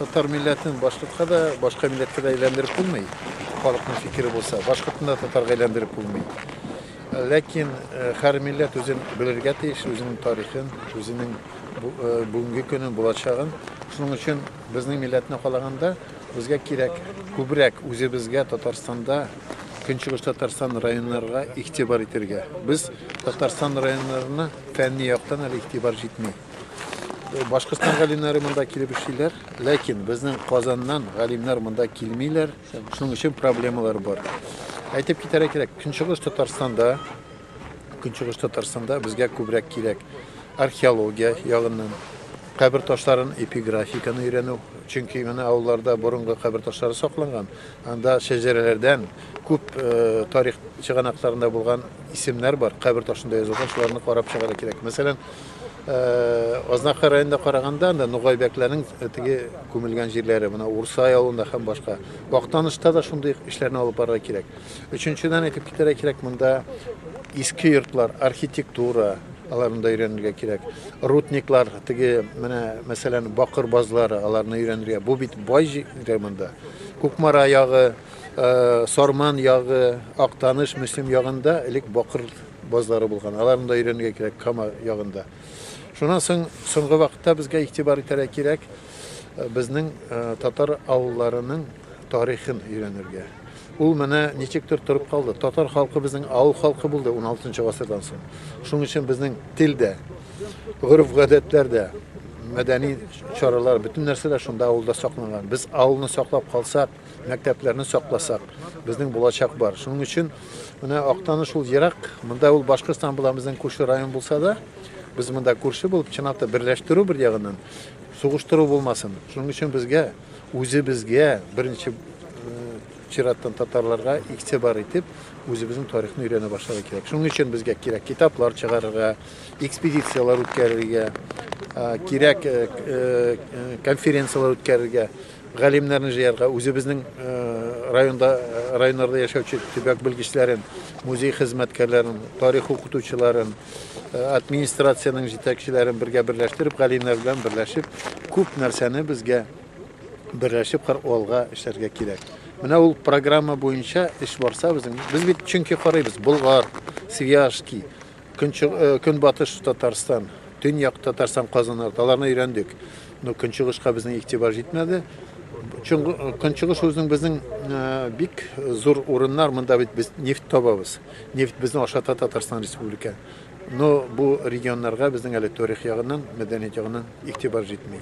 Татар милләтен башкортка да, башка милләткә дә әйләндереп булмый. Халыкның фикере булса, башкортны да татарга әйләндереп булмый. Ләкин һәр милләт үзен белергә тиеш, үзенең тарихын, үзенең бүгенге көнен, булачагын. Шуның өчен безнең милләтне калаганда, безгә кирәк күбрәк үзебезгә Татарстанда Көнчыгыш Татарстан районнарга игътибар итәргә. Без Татарстан районнарына фәнни яктан әле игътибар җитми. Башкортстан галимнәре монда килеп эшлиләр, ләкин безнең Казаннан галимнәр монда килмиләр, шуның өчен проблемалар бар. Әйтеп китәргә кирәк, Көнчыгыш Татарстанда, Көнчыгыш Татарстанда безгә күбрәк кирәк археология ягыннан, кабер ташларын, эпиграфиканы өйрәнү. Чөнки менә авылларда борынгы кабер ташлары сакланган, анда шәҗәрәләрдән күп э, тарих чыганакларында булган исемнәр бар, кабер ташында язылган, шуларны карап чыгарга кирәк. Мәсәлән, Азнакай районында караганда анда нугай бәкләрнең теге күмелгән җирләре, менә Урсай авылында һәм башка. Актанышта да шундый эшләрне алып барырга кирәк. Өченчедән әйтеп китәргә кирәк, монда иске йортлар, архитектура, аларында өйрәнергә кирәк. Рутниклар, теге менә мәсәлән бакыр базлары, аларны өйрәнергә. Бу бит бай җир монда. Кукмара ягы, Сарман ягы, Актаныш, Мөслим ягында элек бакыр Базлары булган. Аларны да өйрәнергә кирәк Кама ягында. Шуннан соң соңгы вакытта безгә игътибар итәргә кирәк э, безнең э, татар авылларының тарихын өйрәнергә. Ул менә ничектер торып калды. Татар халкы безнең авыл халкы булды 16 гасырдан соң. Шуның өчен безнең тел дә, гореф-гадәтләр дә, мәдәни чаралар, бөтен нәрсә дә шунда авылда сакланган. Без авылны саклап калсак, мәктәпләрне сакласак, безнең булачак бар. Шуның өчен Менә Актаныш ул ерак, монда ул Башкортстан була, безнең күрше район булса да, без монда күрше булып, чынлап та берләштерү бер ягыннан, сугыштыру булмасын. Шуның өчен безгә, үзебезгә, беренче чираттан татарларга игътибар итеп, үзебезнең тарихны өйрәнә башларга кирәк. Шуның өчен безгә кирәк китаплар чыгарырга, экспедицияләр үткәрергә, кирәк конференцияләр үткәрергә. галимнәрне җыярга, үзебезнең районда, районнарда яшәүче төбәк белгечләрен, музей хезмәткәрләрен, тарих укытучыларын, администрациянең җитәкчеләрен бергә берләштереп, галимнәр белән берләшеп, күп нәрсәне безгә берләшеп алга эшләргә кирәк. Менә ул программа буенча эш барса безнең, без бит чөнки карыйбыз, Болгар, Свияжский, Көнбатыш Татарстан, Төньяк Татарстан казаннары, аларны өйрәндек. Но Көнчыгышка безнең игътибар җитмәде. Көнчыгыш үзенең безнең бик зур урыннар, монда бит без нефть табабыз. Нефть безне ашата Татарстан Республика. Но бу регионнарга безнең әле тарих ягыннан, мәдәният ягыннан игътибар җитми.